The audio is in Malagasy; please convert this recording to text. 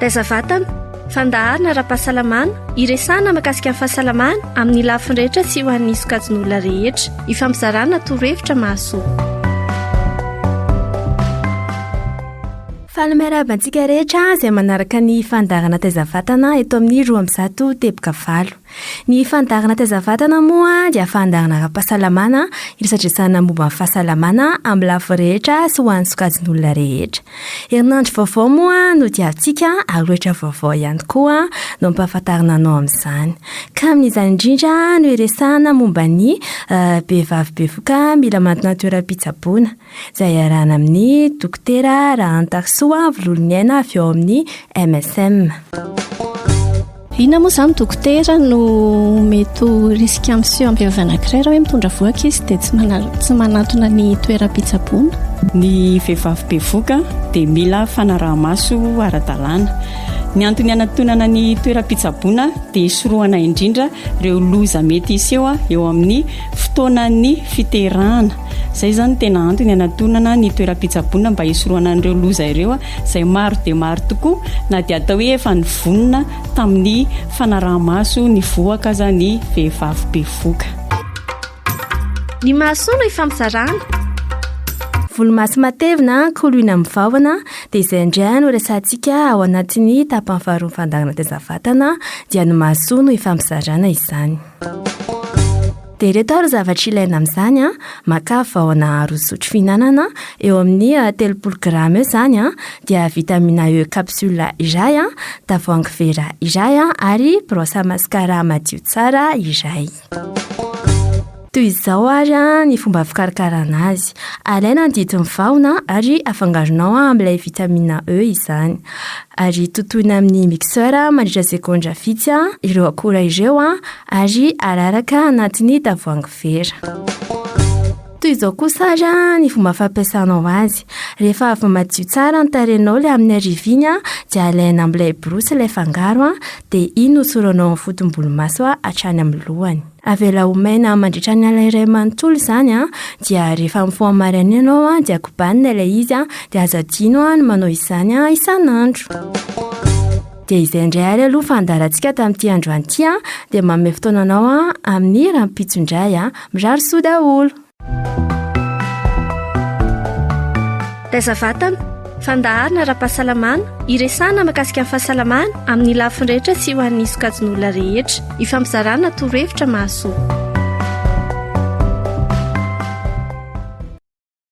Taiza vatana, fandaharana ara-pahasalamana, iresahana makasika ny fahasalamana amin'ny lafiny rehetra sy ho an'ny sokajin'olona rehetra. Ifampizarana torohevitra mahasoa. Faly miarahaba antsika rehetra izay manaraka ny fandaharana taiza vatana eto amin'ny roa ambizato teboka valo. Ny fandaharana taiza vatana moa dia fandaharana ara-pahasalamana iresadresahana momba ny fahasalamana amin'ny lafiny rehetra sy ho an'ny sokajin'olona rehetra. Herinandro vaovao moa no diavintsika ary loatra vaovao ihany koa no ampahafantarina anao amin'izany. Ka amin'izany indrindra no iresahana momba ny vehivavy bevoka mila manana toeram-pitsaboana. izay iarahana amin'ny Dokotera Rahantarisoa Vololoniaina avy ao amin'ny MSM. Inona moa izany dokotera no mety ho risika miseho amin'ny vehivavy anankiray raha hoe mitondra voa ankizy dia tsy manal- tsy manantona ny toeram-pitsaboana? Ny vehivavy bevoka dia mila fanaraha-maso ara-dalàna. Ny antony hanatonana ny toeram-pitsaboana dia hisorohana indrindra ireo loza mety hiseho eo amin'ny fotoanan'ny fiterahana. Izay izany tena antony hanatonana ny toeram-pitsaboana mba hisorohana an'ireo loza ireo izay maro dia maro tokoa na dia atao hoe efa nivonona tamin'ny fanaraha-maso ny vohoka aza ny vehivavy bevoka. Ny mahasoa no ifampizarana. Volomaso matevina, koloina amin'ny vahona, dia izay indray no resahantsika ao anatin'ny tapany faharoa ny fandaharanateza vatana, dia ny mahasoa no ifampizarana izany. Dia ireto ary zavatra ilaina amin'izany an, makà vahona roa zotro fihinanana, eo amin'ny telopolo grama eo izany an, dia vitamina E capsule iray an, tavoahangy vera iray an, ary brosse à mascara madio tsara iray. Toy izao ary an ny fomba fikarakarana azy, alaina ny didin'ny vahona ary afangaronao amin'ilay vitamina E izany, ary totoina amin'ny mixeur mandritra segondra vitsy an ireo akora ireo an, ary araraka anatin'ny tavoahangy vera. Toy izao kosa ary ny fomba fampiasanao azy. Rehefa avy madio tsara ny tarehinao ilay amin'ny ariviny dia alaina amin'ilay borosy ilay fangaro dia iny no osoranao amin'ny fotom-bolomaso hatrany amin'ny lohany. Avela ho maina mandritra ny alina iray manontolo izany dia rehefa mifoha maraina ianao dia kobanina ilay izy dia aza adino ny manao izany isan'andro. Dia izay indray ary aloha fandaharantsika tamin'ity androany ity an, dia manome fotoana anao an amin'ny rahampitso indray an. Mirary soa daholo. Taiza vatana, fandaharana ara-pahasalamana, iresahana mahakasika ny fahasalamana amin'ny lafiny rehetra sy ho an'ny sokajin'olona rehetra. Ifampizarana torohevitra mahasoa.